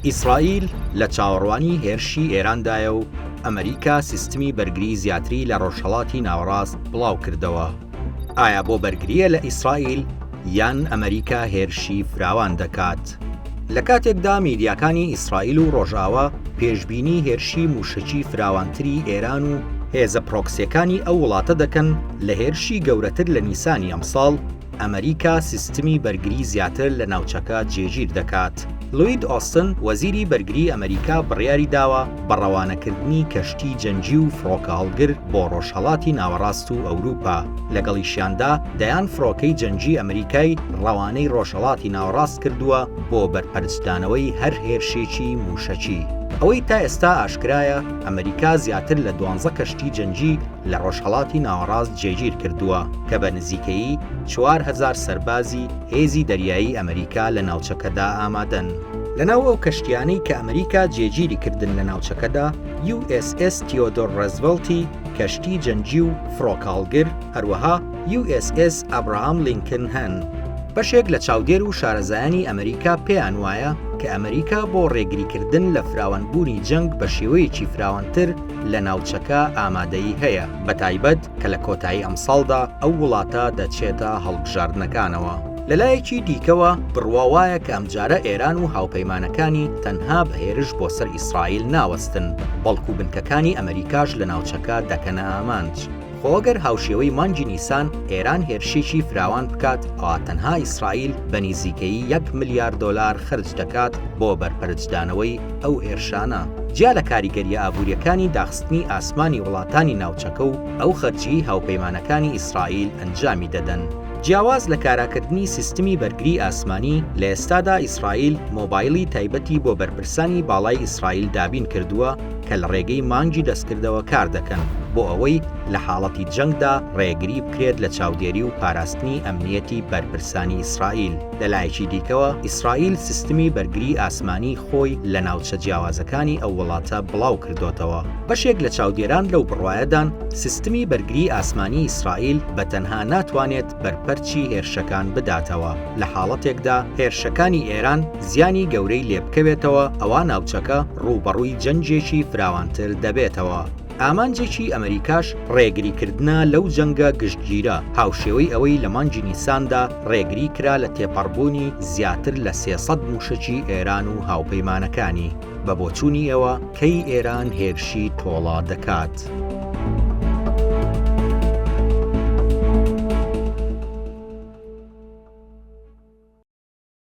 ئیسرائیل لە چاوەڕوانی هێرشی ئێراندایە و ئەمەریکا سیستمی بەرگری زیاتری لە ڕۆژهەڵاتی ناوەڕاست بڵاوکردەوە، ئایا بۆ بەرگرییە لە ئیسرائیل یان ئەمەریکا هێرشی فراوان دەکات؟ لە کاتێکدا میدیاکانی ئیسرائیل و ڕۆژاوا پێشبینی هێرشی مووشەکی فراوانتری ئێران و هێزە پرۆکسییەکانی ئەو وڵاتە دەکەن لە هێرشی گەورەتر لە نیسانی ئەمساڵ، ئەمەریکا سیستمی بەرگری زیاتر لە ناوچەکە جێگیر دەکات. لوید ئۆستن، وەزیری بەرگری ئەمەریکا بڕیاری داوە بە ڕەوانەکردنی کەشتی جەنگی و فڕۆکە هەڵگر بۆ ڕۆژهەڵاتی ناوەڕاست و ئەوروپا، لەگەڵیشیاندا دەیان فڕۆکەی جەنگی ئەمەریکای ڕەوانەی ڕۆژهەڵاتی ناوەڕاست کردووە بۆ بەرپەرچدانەوەی هەر هێرشێکی موشەکی. ئەوەی تا ئێستا ئاشکرایە، ئەمەریکا زیاتر لە دوانزە کەشتی جەنگی لە ڕۆژهەڵاتی ناوەڕاست جێگیر کردووە کە بە نزیکەیی چوار هەزار سەربازی هێزی دەریایی ئەمریکا لە ناوچەکەدا ئامادەن. لەناو ئەو کەشتیانەی کە ئەمریکا جێگیری کردن لە ناوچەکەدا، یو ئێس ئێس تیۆدۆر ڕێزڤڵتی، کەشتی جەنگی و فڕۆکاڵگر، هەروەها یو ئێس ئێس ئابراهام لینکن هەن. بەشێک لە چاودێر و شارەزایانی ئەمریکا پێیان وایە کە ئەمریکا بۆ ڕێگریکردن لە فراوانبوونی جەنگ بە شێوەیەکی فراوانتر، لە ناوچەکە ئامادەیی هەیە، بەتایبەت کە لە کۆتایی ئەمساڵدا ئەو وڵاتە دەچێتە هەڵبژاردنەکانەوە. لەلایەکی دیکەوە، بڕوا وایە کە ئەمجارە ئێران و هاوپەیمانەکانی تەنها بە هێرش بۆ سەر ئیسرائیل ناوەستن، بەڵکو بنکەکانی ئەمەریکاش لە ناوچەکە دەکەنە ئامانج. خۆ گەر هاوشێوەی مانگی نیسان ئێران هێرشێکی فراوان بکات ئەوا تەنها ئیسرائیل بە نیزیکەیی یەک ملیار دۆلار خەرج دەکات بۆ بەرپەرچدانەوەی ئەو هێرشانە جیا لە کاریگەریە ئابوریەکانی داخستنی ئاسمانی وڵاتانی ناوچەکە و ئەو خەرجیەی هاوپەیمانەکانی ئیسرائیل ئەنجامی دەدەن. جیاواز لە کاراکردنی سیستمی بەرگری ئاسمانی، لە ئێستادا ئیسرائیل مۆبایلی تایبەتی بۆ بەرپرسانی باڵای ئیسرائیل دابین کردووە، کە لە ڕێگەی مانگی دەستکردەوە کار دەکەن بۆ ئەوەی لە حاڵەتی جەنگدا ڕێگری بکرێت لە چاودێری و پاراستنی ئەمنیەتی بەرپرسانی ئیسرائیل. لە لایەکی دیکەوە، ئیسرائیل سیستمی بەرگری ئاسمانی خۆی لە ناوچە جیاوازەکانی ئەو وڵاتە بڵاو کردۆتەوە. بەشێک لە چاودێران لەو بڕوایەدان سیستمی بەرگری ئاسمانی ئیسرائیل بە تەنها ناتوانێت بەرپەرچی هێرشەکان بداتەوە لە حاڵەتێکدا هێرشەکانی ئێران زیانی گەورەی لێبکەوێتەوە ئەوا ناوچەکە ڕووبەڕووی جەنگێکی فراوانتر دەبێتەوە. ئامانجێکی ئەمەریکاش ڕێگریکردنە لەو جەنگە گشتگیرە، هاوشێوەی ئەوەی لە مانگی نیساندا ڕێگری کرا لە تێپەڕبوونی زیاتر لە سێ سەد مووشەکی ئێران و هاوپەیمانەکانی. بە بۆچوونی ئێوە کەی ئێران هێرشی تۆڵە دەکات؟